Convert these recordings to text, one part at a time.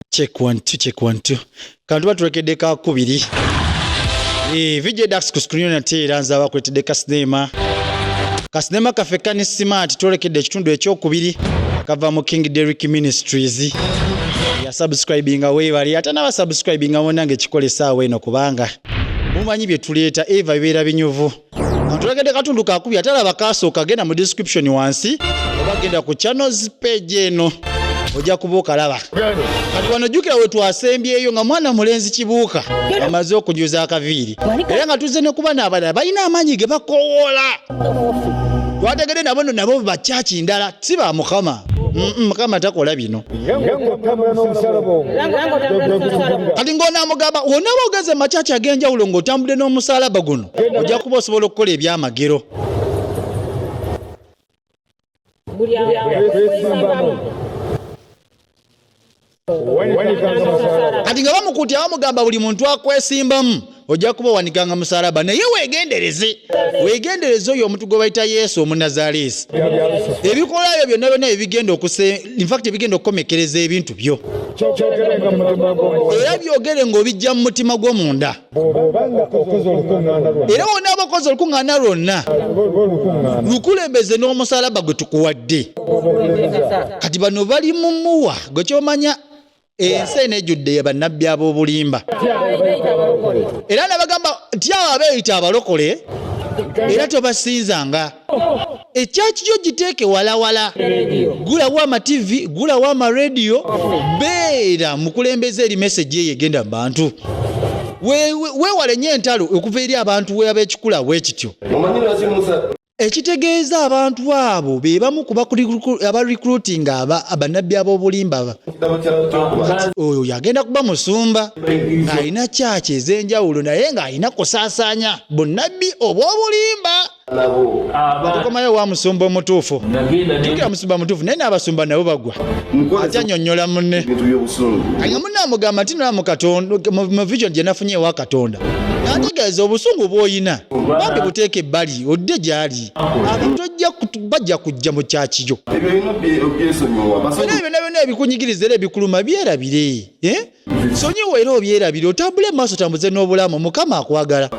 check one two check one two kantu batulekedde ka kubiri eh vijay dax ku screen na tera nza bakuletedde ka cinema ka cinema kafe kani smart tulekedde ekitundu ekyokubiri kava mu king derrick ministries ya subscribing away bali ate na subscribing awona nge kikole sawa eno kubanga mumanyi bye tuleeta eva bibera binyuvu Antulagedde katundu kakubi ate alaba kaasooka genda mu description wansi oba genda ku channels page eno ojja kuba okalaba kati wano jjukira we twasembyeyo nga mwana mulenzi kibuuka amaze okujuza akaviiri era nga tuzze ne kuba n'abalala balina amaanyi ge bakowoola twategede nabo no nabo bakyaki ndala si ba mukama mukama takola bino kati ng'onaamugamba wonaaba ogenze makyaki ag'enjawulo ng'otambudde n'omusalaba guno ojja kuba osobola okukola ebyamagero kati nga bamukuti abamugamba buli muntu akwesimbamu ojja kuba wanikanga musalaba naye wegendereze wegendereze oyo omuntu gwe bayita yesu omunazaleesi ebikolayo byonna byonna ebigenda okuse infact ebigenda okukomekereza ebintu byo era byogere ngaobijja mu mutima gwomunda era wonna aba okoze olukuŋŋaana lwonna lukulembeze n'omusalaba gwe tukuwadde kati bano bali mumuwa gwe kyomanya ensi eno ejjudde ye bannabbi ab'obulimba era nabagamba nti awo abeeyita abalokole era tobasinzanga ekyaki kyo giteeke walawala gulawo amativi gulawo amarediyo beera mukulembeza eri mesegi eyo egenda mu bantu weewale nyo entalo okuva eri abantu weaba ekikula bwe kityo ekitegeeza abantu abo be bamu ku abarecruitinga abannabbi ab'obulimba oyo yagenda kuba musumba ng'alina kyaki ez'enjawulo naye ng'alina kusaasaanya bunnabbi obw'obulimba tukomayo wa musumba omutuufu tukira musumba mutuufu naye n'abasumba nabo bagwa ate anyonyola munne nga munne amugamba nti nolamu katonda mu vision gye nafunye ewa katonda nategeeza obusungu bw'olina bambi buteeka ebbali odde gy'ali abantu bajja kujja mu kyakiyo era byona byona ebikunyigiriza era ebikuluma byerabire eh? sonyiwa era obyerabire otambule maaso tambuze n'obulamu mukama akwagala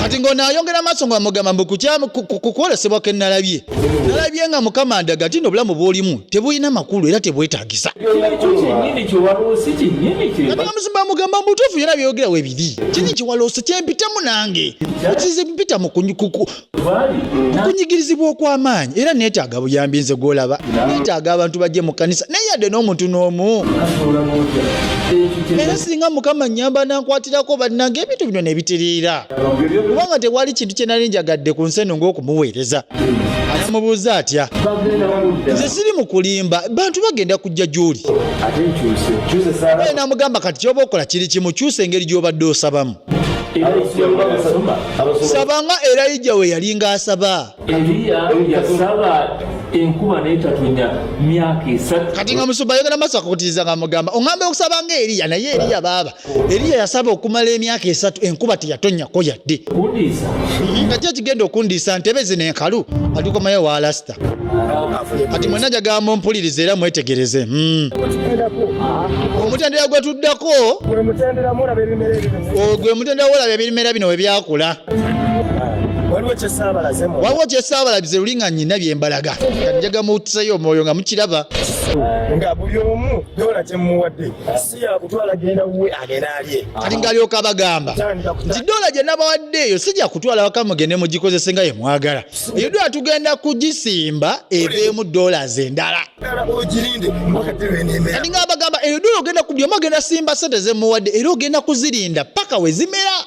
kati ng'ono ayongera maaso nga mugamba mbu kukwolesebwa ke nalabye nalabye nga mukama ndaga ti nobulamu bwolimu tebulina makulu era tebwetagisa muzimba amugamba mubutuufu yona byeyogera webiri kiri kiwaloosi kyempitamu nange kize mpita okunyigirizibwa okw'amaanyi era neetaaga buyambi nze gw'olaba neetaaga abantu bajje mu kkanisa naye yadde n'omuntu n'omu era singa mukama nyamba nankwatirako bannanga ebintu bino nebitereera kubanga tewali kintu kye nali njagadde ku nsi eno ng'okumuweereza amubuuza atya nze siri mu kulimba bantu bagenda kujja gy'oli namugamba kati kyoba okola kiri kimu kyusa engeri gy'obadde osabamu saba nga erayija we yali ng'asaba enkuba naye tatonya myaka esatu kati nga musumba ayogera maaso akakutiriza nga mugamba oŋamba okusaba nga eriya naye eriya baaba eriya yasaba okumala emyaka esatu enkuba teyatonyako yadde nga ki ekigenda okundiisa ntebe zino enkalu alikomayo walasita kati mwena jagamba mpuliriza era mwetegereze hmm. omutendera gwe tuddako ogwe mutendera wolaba ebimera bino we byakula waliwo kyesaabalabize luli nga nyina byembalaga kati njaga muwutisayo omwoyo nga mukiraba nga buli omu dola kyemuwadde si yakutwala genda wuwe agenda alye kati ngaalyoka bagamba nti dola gye nabawadde eyo si gyakutwala waka mugende mugikozese nga yemwagala Yudwa tugenda kugisimba eveemu dollars endala. Kati nga abagamba eyo dola ogenda kubyoma ogenda simba sente zemuwadde era ogenda kuzirinda paka wezimera.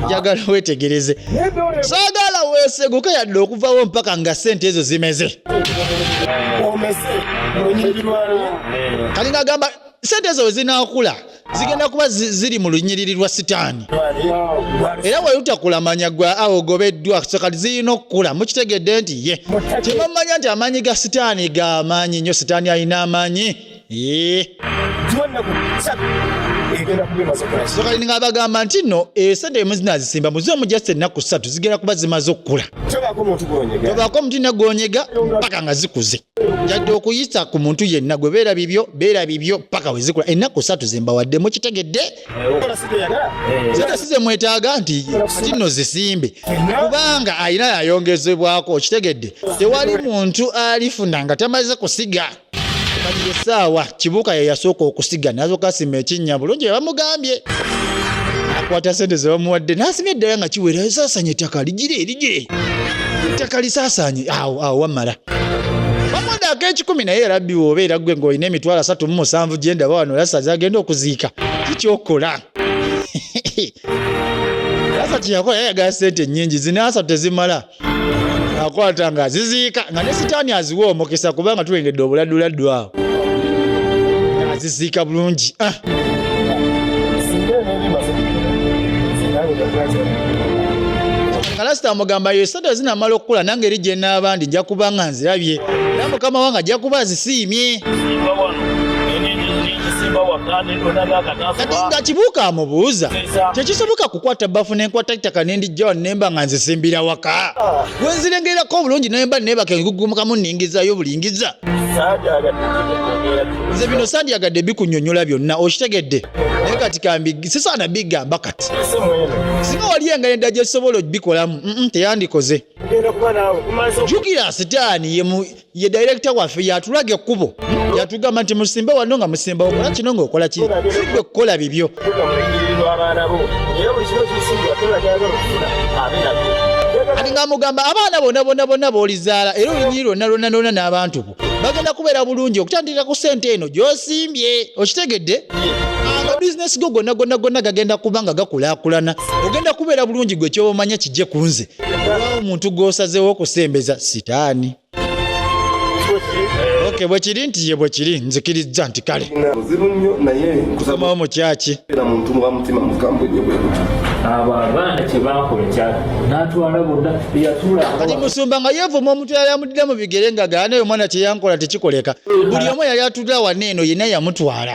Njagala wetegereze. Saagala weeseguke yadde okuvawo mpaka nga sente ezo zimeze. Kati nga agamba sente ezo wezinakula. zigenda kuba ziri mu lunyiriri lwa sitaani era wayutakulamanya gwe awo ogobeddwa kati zirina okukula mukitegedde nti ye kyemamanya nti amaanyi ga sitaani ga amaanyi nnyo sitaani alina amaanyi kati nga bagamba nti no esente eh, emuzina zisimba muzi omujasa ennaku ssatu zigenda kuba zimaze okukula tobaako omuti nagonyega paka nga zikuze njadde okuyisa ku muntu yenna gwe beera bibyo beera bibyo paka wezikula ennaku satu zembawadde mukitegedde zeta size mwetaaga nti kati nno zisimbe kubanga alina yayongezebwako okitegedde tewali muntu alifuna nga tamaze kusiga kati esaawa kibuuka yeyasooka okusiga nazokasima ekinnya bulungi bebamugambye akwata sente zebamuwadde nasimye eddala nga kiwera esasanye ettaka ligire ligire ettaka lisasanye awo awo wamala Bamonde ak'ekikumi naye era bbi woobeera ggwe ng'olina emitwalo asatu mu musanvu gye ndaba wano Lasazi agenda okuziika kikyokola Lasa kyeyakola yayagala sente nnyingi zina asatu tezimala akwata nga aziziika nga ne sitaani aziwa omukisa kubanga tulengedde obuladuladdu awo aziziika bulungi ah. nga lasita amugamba Sente zinamala okukula nange eri gyenaaba ndi nja kuba nga nzirabye era mukama wange ajja kuba azisiimye. nga kibuuka amubuuza tekisoboka kukwata bafu nenkwata ettaka nendijjawa nemba nga nzisimbira waka wenzirengerako obulungi nemba nebaka engugumukamu ningizayo bulingiza nze bino sandyagadde bikunyonyola byonna okitegedde naye kati kambi sisaana bigamba kati singa wali engeri endala gyesobola okubikolamu teyandikoze jukira sitaani ye dayirekita waffe yatulaga ekkubo yatugamba nti musimbe wano nga musimba okola kino ngaokola ki sigwe okukola bibyo ati nga mugamba abaana bona bona bona bolizaala era olunyiri lwonna lwonna lwonna n'abantu bagenda kubeera bulungi okutandikira ku sente eno gyosimbye okitegedde amabizinesi go gonna gonna gonna gagenda kuba nga gakulakulana ogenda kubeera bulungi gwe kyobamanya kijje ku nze olwawo omuntu gwosazeewo okusembeza sitaani oke bwekiri nti ye bwekiri nzikirizza nti kale somawo mukyaki abo abaana kyebakola kyali natwala bonna yatula kati musumba nga yevuma omuntu yali Dda mu bigere nga gaana oyo mwana kyeyankola tekikoleka buli omu yali atudde awana eno yenna yamutwala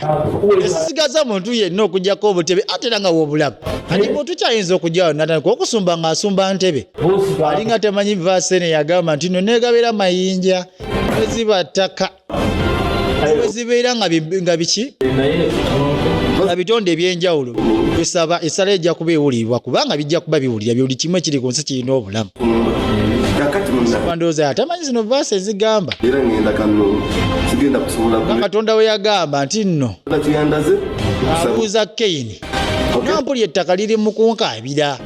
esigaza muntu yenna okujjako obutebe ate era nga wobulaba kati muntu kyayinza okujjawo natandika okusumba nga asumba ntebe alinga temanyi vaasene yagamba nti no negabera mayinja neziba ttaka zibeera nga biki nga bitonde ebyenjawulo esaba esala ejja kuba ewulirwa kubanga bijja kuba biwulira byoli kimu ekiri ku nsi kirina obulamu ndowooza atamanyi zino vaasi ezigamba katonda we yagamba nti nno abuuza keyini nampuli ettaka liri mukunkaabira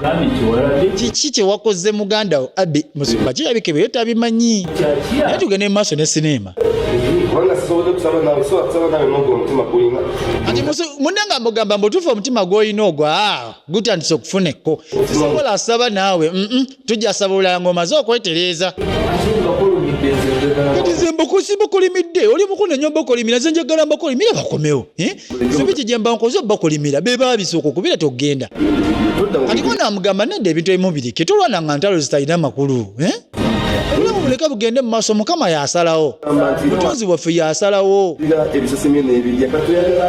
kiki kyewakoze muganda wo abi musumba kirabike byo tabimanyi naye tugende mu maaso ne sineema ati mune nga mugamba mbutuufu omutima gwolina ogwa ah, gutandise okufuneko sisobola asaba naawe tujja saba olulala ng'omaze okwetereeza kati ze mbukusi bukolimidde oli mukulu nenyo bakolimira ze njagala mbakolimira bakomewo eh? sebiki gye mba nkoze bakolimira be baabisooka okubira togenda kati ko namugamba nedda ebintu ebimu birike tolwana nga ntalo zitalina makulu eh? obulamu buleke bugende mu maaso mukama yasalawo mutonzi waffe yasalawo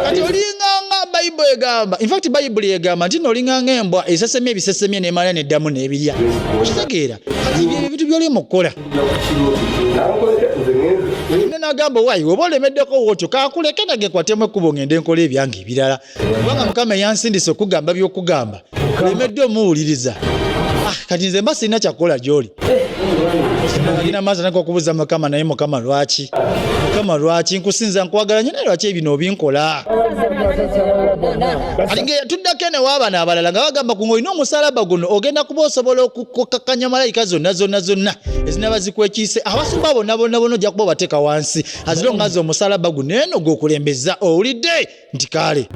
kati olinganga bayibuli egamba infact bayibuli egamba nti nolinganga embwa esesemya ebisesemi nemala neddamu nebirya okitegeera ebintu byoli mukukola ne nagamba wayi oba olemeddeko wotyo kakuleke nage kwatemu ekkubo ngende nkola ebyange ebirala kubanga mukama eyansindise okugamba byokugamba olemedde omuwuliriza ah, kati nze mba sirina kyakukola gyoli nina maazi anaka okubuuza mukama naye mukama lwaki mukama lwaki nkusinza nkwagala nyo naye lwaki ebino obinkola alinga eyatuddako ene waabana abalala nga bagamba ku ngaolina omusalaba guno ogenda kuba osobola okukakkanya malayika zonna zonna zonna ezinaba zikwekiise abasumba bonna bonna bona ojja kuba obateeka wansi azilongazi omusalaba guno eno gwokulembeza owulidde nti kaale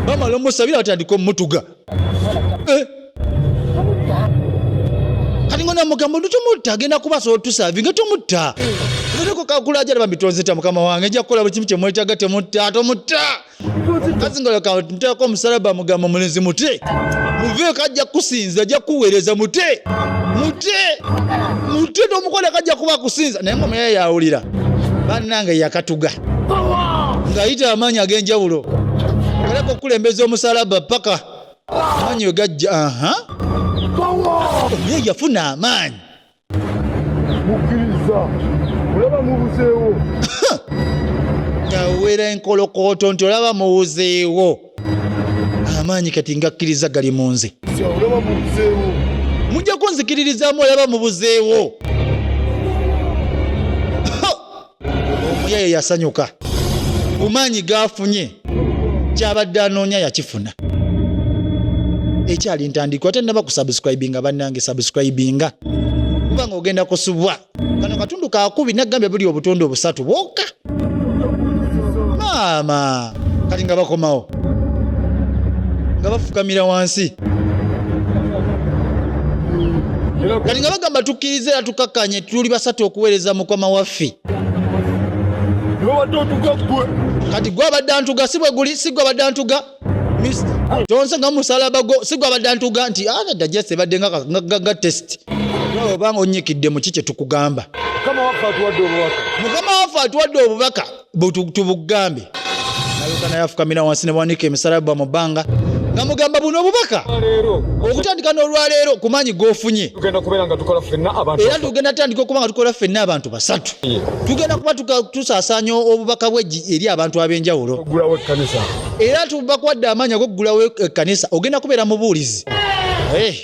bamala omusabira batandika omutuga eh. kati nga namugamba nti tomutta agenda kuba asobola otusavi nga tomutta ereko kakula ajala bambi tonzita mukama wange nja kukola buli kimu kyemwetaga temutta tomutta kazi nga leka nteeko omusalaba mugamba mulenzi mute muveeko ajja kukusinza ajja kukuweereza mute mute mute tomukoleko ajja kuba akusinza naye nga omuyaye yawulira banange yakatuga ng'ayita amaanyi ag'enjawulo aleka okukulembeza omusalaba paka amaanyi we gajja aha oyo yafuna amaanyi mukkiriza olaba mubuzeewo awera enkolokooto nti olaba muwuzeewo amaanyi kati ngakkiriza gali mu nze mujja kunzikiririzaamu olaba mubuzeewo omuyeye yasanyuka bumaanyi gaafunye kyabadde anoonya yakifuna ekyali ntandikwa ate naba kusubscribinga bannange subscribinga kuba nga ogenda kusubwa kano katundu kakubi nagambye buli obutundu obusatu bwoka maama kati nga bakomawo nga bafukamira wansi kati nga bagamba tukkirize era tukakkanye tuli basatu okuweereza mukama waffe kati gwe abadde antuga si bwe guli si gwe abadde antuga tonse nga musalaba gwo si gwe abadde antuga nti ada ah, jese ebadde nga test obanga onnyikidde mu ki kye tukugamba mukama waffe atuwadde obubaka tubugambe nalyoka naye afukamira wansi nebawanika emisala bba mu bbanga nga mugamba buno obubaka okutandika n'olwaleero ku maanyi g'ofunye era tugenda tandika okuba nga tukola ffenna abantu basatu tugenda kuba tusaasanya obubaka bwe eri abantu ab'enjawulo era tubakwadde amaanyi ag'okugulawo ekkanisa ogenda kubeera mubuulizi eh.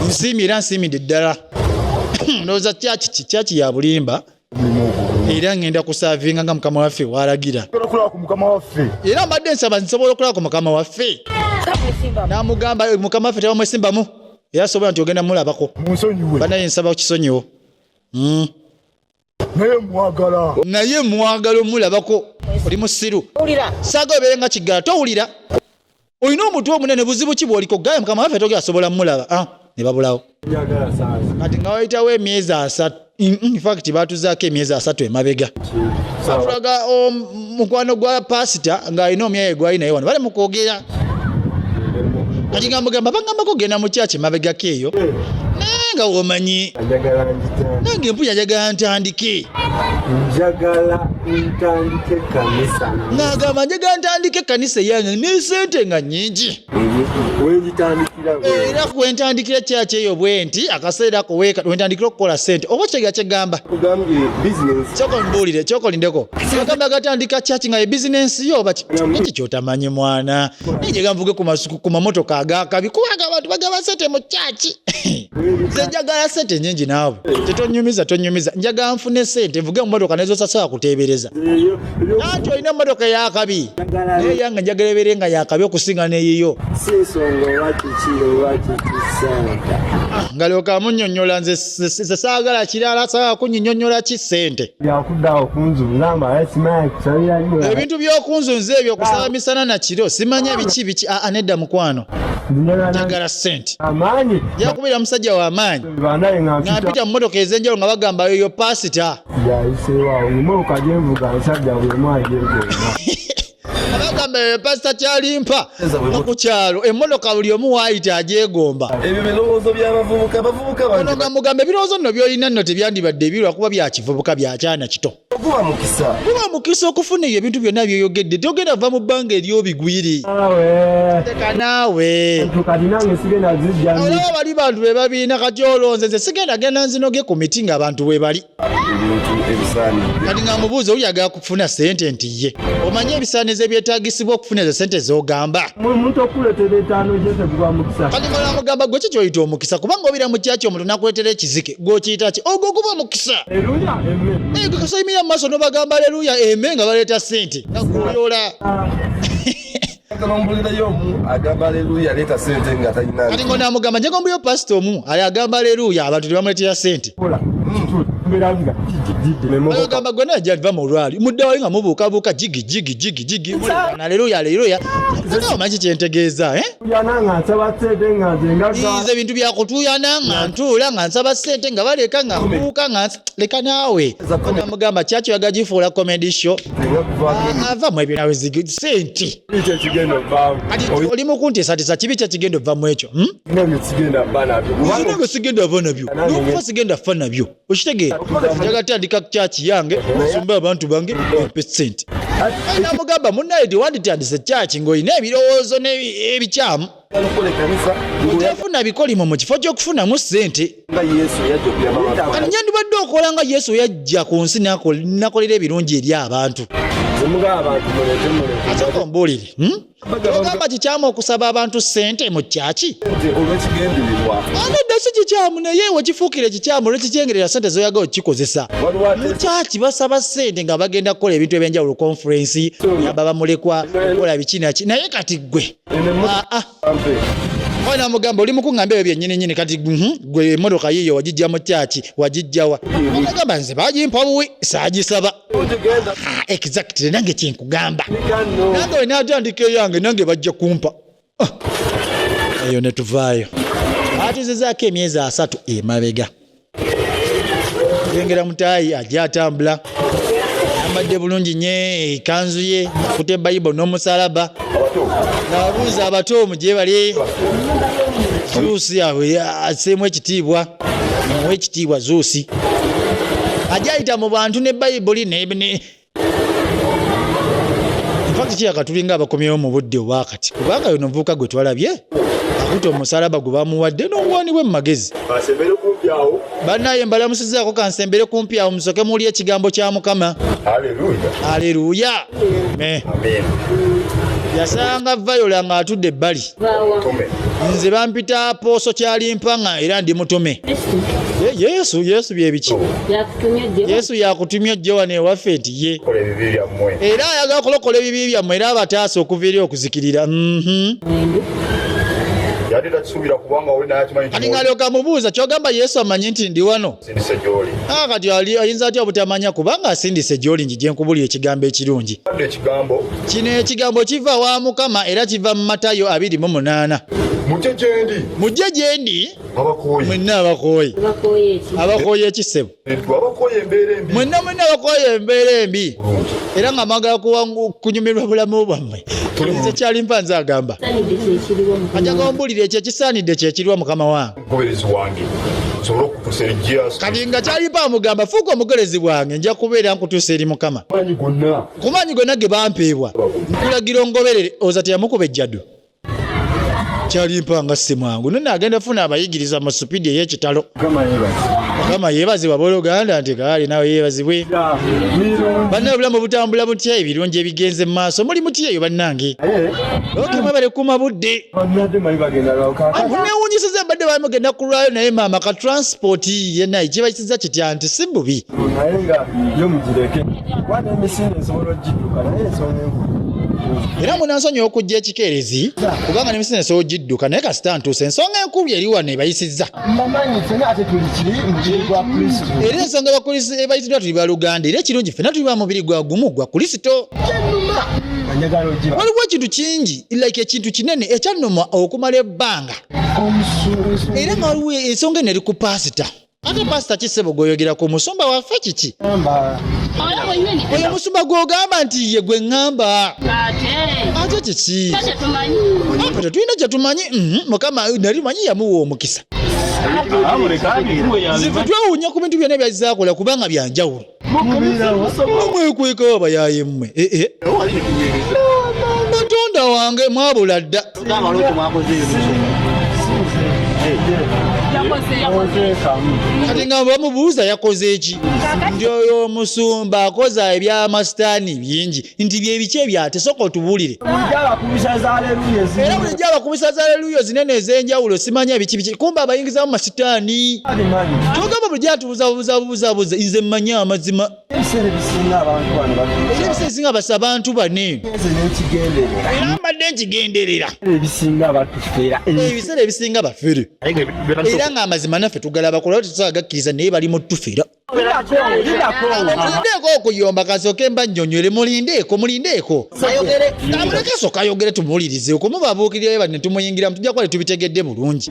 nsiimi era nsiimidde ddala ndowooza kyaki kyaki ya bulimba era ngenda kusavinga nga mukama waffe walagira era mbadde nsaba nsobola okulaba ku mukama waffe namugamba eh, mukama waffe tebamwesimbamu era sobola nti ogenda mulabako banaye nsaba kukisonyiwo hmm. naye mwagala naye mwagala omulabako oli musiru saga obeere nga kiggala towulira olina omutwe omunene buzibu ki bwoliko gaye mukama waffe togera sobola mulaba ah, ne babulawo kati nga wayitawo emyezi asatu infact batuzaako emyezi asatu emabega atulaga mukwano gwa pasita ng'alina omyaye gwali naye wano bali mukwogera kati nga mugamba bagambako genda mu kyaki emabegako eyo naye nga womanyi nange mpuya njagala ntandike njagala ntandike kanisa nagamba njagala ntandika ekkanisa eyange nesente nga nyingi era kwentandikira kyaki eyo bwenti akaseera ako wentandikira okukola sente oba kyega kyegamba kyokomubuulire kyokolindeko agamba agatandika kyaki nga ebizinensi yo oba kiki kyotamanyi mwana naye gyeganvuge ku mamotoka agakabi kubanga abantu bagaba sente mu kyaki nze njagala sente nyingi naawe tetonyumiza tonyumiza njagala nfune sente nvuge mumotoka nezosasobola kuteebereza nanti olina emotoka yakabi naye yange njagala ebeere nga yakabi okusinga neyiyo ah, ngalyoka munyonyola nze saagala kirala saagala kunyinyonyola ki sente ebintu byokunzunza ebyo kusaba misana nakiro simanya biki biki aa ah, ah, nedda mukwano njagala sente yakubira musajja wa maanyi nampita mu motoka ezenjalo nga bagamba yoyo pasita abagamba yoyo pasita kyalimpa ku kyalo emotoka buli omu waayita agyegomba ono nga mugamba ebirowoozo nno byolina nno tebyandibadde ebirwa kuba byakivubuka byakyana kito guba mukisa guba mukisa okufuna eyo ebintu byonna byoyogedde togenda va mu bbanga eryobigwiri olaba bali bantu bebabiina kati olonze nze sigenda genda nzinoge ku miti nga abantu webali kati nga mubuuza oli agala kufuna sente nti ye omanye ebisaanizo ebyetagisibwa okufuna ezo sente zogamba kati mala mugamba gwe kikyoyita omukisa kubanga obira mukyaki omuntu nakuletera ekizike gwokiyita ki ogwo guba mukisa kasayimira mu maaso nobagamba aleluya eme nga baleeta sente nga gwoyola kati ngo namugamba njegombuyo pasita omu ali agamba aleluya abantu tebamuletera sente ogamba gwe naye java mu lwali muddawayo nga mubuukabuuka jigi jigi jigi jigi aleluya aleluya omanyi kyentegeeza eh? nze bintu byakutuyana nga ntuula nga nsaba sente nga baleka nga mbuuka nga leka naawe namugamba kyakyo yaga gifuula comedy show ava mu ebyo nawe sente oli mukunteesatesa kibi kyakigenda obva mu ekyo sigenda ava nabyo nokufa sigenda fa nabyo okitegeera njaga tandika kyaki yange nsumba abantu bange empe sente namugamba munaye tewanditandise kyaki ngaolina ebirowoozo ebikyamu tefuna bikolimo mu kifo kyokufunamu sente kati nyandibadde okola nga yesu yajja ku nsi nakolera ebirungi eri abantu ate ombuulire hmm? ogamba kikyamu okusaba abantu sente mu kyaki anedda si kikyamu naye wekifuukire kikyamu olwekikyengerera sente zoyaga okikozesa mu kyaki basaba sente nga bagenda kukola ebintu ebyenjawulo konferensi yaba bamulekwa okukola bikinaki naye kati gwe ah, ah. oyo namugamba oli mukuŋamba ebyo byenyini nyini kati mhm, gwe emotoka yiyo wagijja mu kyaki wagijjawa namugamba nze bagimpa buwi sagisaba Ah, exactly nange kyenkugamba nange olina atandika eyange nange bajja kumpa ah. eyo netuvaayo atuzizaako emyezi asatu emabega yengera mutaayi ajja atambula ambadde bulungi nye ekanzu ye akute bayibo n'omusalaba nabuuza abato omu gyebali juusi aseemu ekitiibwa muwe ekitiibwa zuusi ajayita mu bantu ne bayibuli fakiti kyeyakatulinga abakomyewo mu budde obwakati kubanga yono omuvubuka gwe twalabye akuta omusalaba gwe bamuwadde n'obuwani bwe mu magezi banaye mbalamusizaako kansembere kumpi awo musoke muli ekigambo kya mukama aleluya yasanga vayola ng'atudde ebbali nze bampita pooso kyalimpa nga era ndi mutume yesu yesu byebiki yesu yakutumye ojje wano ewaffe nti ye era ayagala okulokola ebibi byammwe era abataasa okuva eri okuzikirira mhm. alingalyoka mubuuza kyogamba yesu amanyi nti ndi wano asindise gyoli ah, kati ali ayinza atya obutamanya kubanga asindise gyoli nji gyenkubuli ekigambo ekirungi ekigambo kino ekigambo kiva wa mukama era kiva mu matayo abiri mu munaana mujje gyendi mujje gyendi abakooye mwenna abakooye abakooye ekisebo abakooye embeera embi mwenna mwenna abakooye embeera embi era nga mwagala kunyumirwa bulamu bwammwe ekyali mpanze agamba ajagombulira ekyo ekisaanidde kyekiriwa mukama wange mugoberezi wange nsobole okutusa eri jesus kati nga kyalipa amugamba fuuka omugoberezi bwange nja kubeera nkutusa eri mukama ku maanyi gonna ge bampeebwa nkulagira ongoberere oza teyamukuba ejjadu kyalimpa nga simwangu none agenda funa abayigiriza mu supidi eyekitalo mukama yebazibwa boluganda nti kaali nawe yebazibwe banna obulamu butambula butya ebirungi ebigenze mu maaso muli mutyeyo bannange okimwebale kuma budde newunyisiza mbadde bamugenda kulwayo naye maama ka transport yena ekiba kiza kitya nti si bubi era munansonyiwa okujja ekikeerezi kubanga nemisina esobola ogidduka naye kasita ntuusa ensonga enkulu eri wano ebayisizza era ensonga ebayisiddwa tuli baluganda era ekirungi fena tuli ba mubiri gwa gumu gwa kulisito waliwo ekintu kingi like ekintu kinene ekyannuma okumala ebbanga era nga waliwo ensonga eno eri ku paasita ate paasita kisebo gweoyogera ku musumba waffe kiki oyo musumba gwogamba nti ye gwe ŋŋamba ate kiki apo tetulina kyetumanyi mhm, mukama nali manyi yamuwa omukisa nze tetwewuunya ku bintu byonna byazzakola kubanga byanjawulo mwekweka abayaye mmwe eh, eh. katonda wange mwabula dda kati nga bamubuuza yakoze eki nti oyo omusumba akoza ebyamasitaani bingi nti byebiki ebyate soka otubulire era bulijjo abakubisa za leluyo zinene ezenjawulo simanya biki biki kumba abayingizamu masitaani kyogamba bulijjo buzabuzabuzabuza nze mmanyi amazima ebiseera ebisinga abantu bano era ebiseera ebisinga basa abantu bane era mbadde nkigenderera ebisinga batufera ebiseera ebisinga bafere era nga amazima naffe tugalabako lwa tetusaa gakkiriza naye bali mutufera mulindeeko okuyomba kasooke mba nnyonywere mulindeeko mulindeeko amulekeso kayogere tumuwulirize okumubabuukirirayo bati netumuyingiramu tujja kuba tetubitegedde bulungi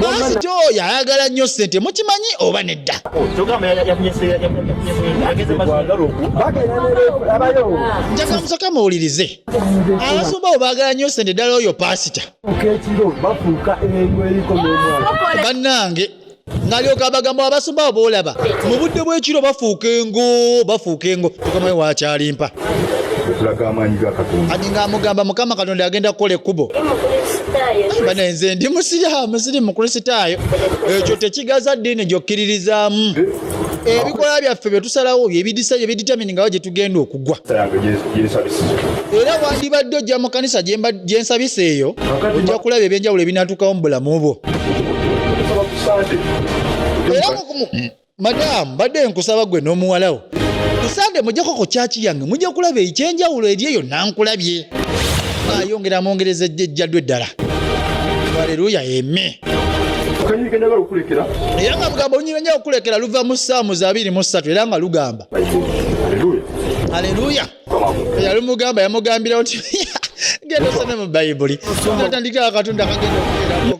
basi ti oyo ayagala nnyo ssente mukimanyi oba nedda njaga musoka muwulirize abasumba bo baagala nnyo ssente ddala oyo paasita bannange nalyoka abagamba abasumba abo boolaba mu budde bw'ekiro bafuuka engo bafuuka engo mukama we wakyalimpa okulaga amaanyi ga katonda kati ng'amugamba mukama katonda agenda kukola ekkubo bane nze ndi musiraamu siri mukristaayo ekyo tekigaza ddiini gyokkiririzaamu ebikola byaffe bye tusalawo byebidisa byebiditaminingawo gye tugenda oku okuggwa era wandibadde ojja mu kanisa gyensabisa eyo ojja kulaba ebyenjawulo ebinatuukawo mu bulamu bwo madaamu badde nkusaba gwe n'omuwalawo kusande mujjako ku kyaki yange mujja kulaba ekyenjawulo eri eyo nankulabye ayongera amwongereza ejjaddu eddala aleluya eme era nga lugambo lunyira nyo okukulekera luva mu saamu za 23 era nga lugamba Haleluya. Yalimugamba yamugambira nti genda osome mu Bayibuli. Natandika akatonda kagenda okubeeramu.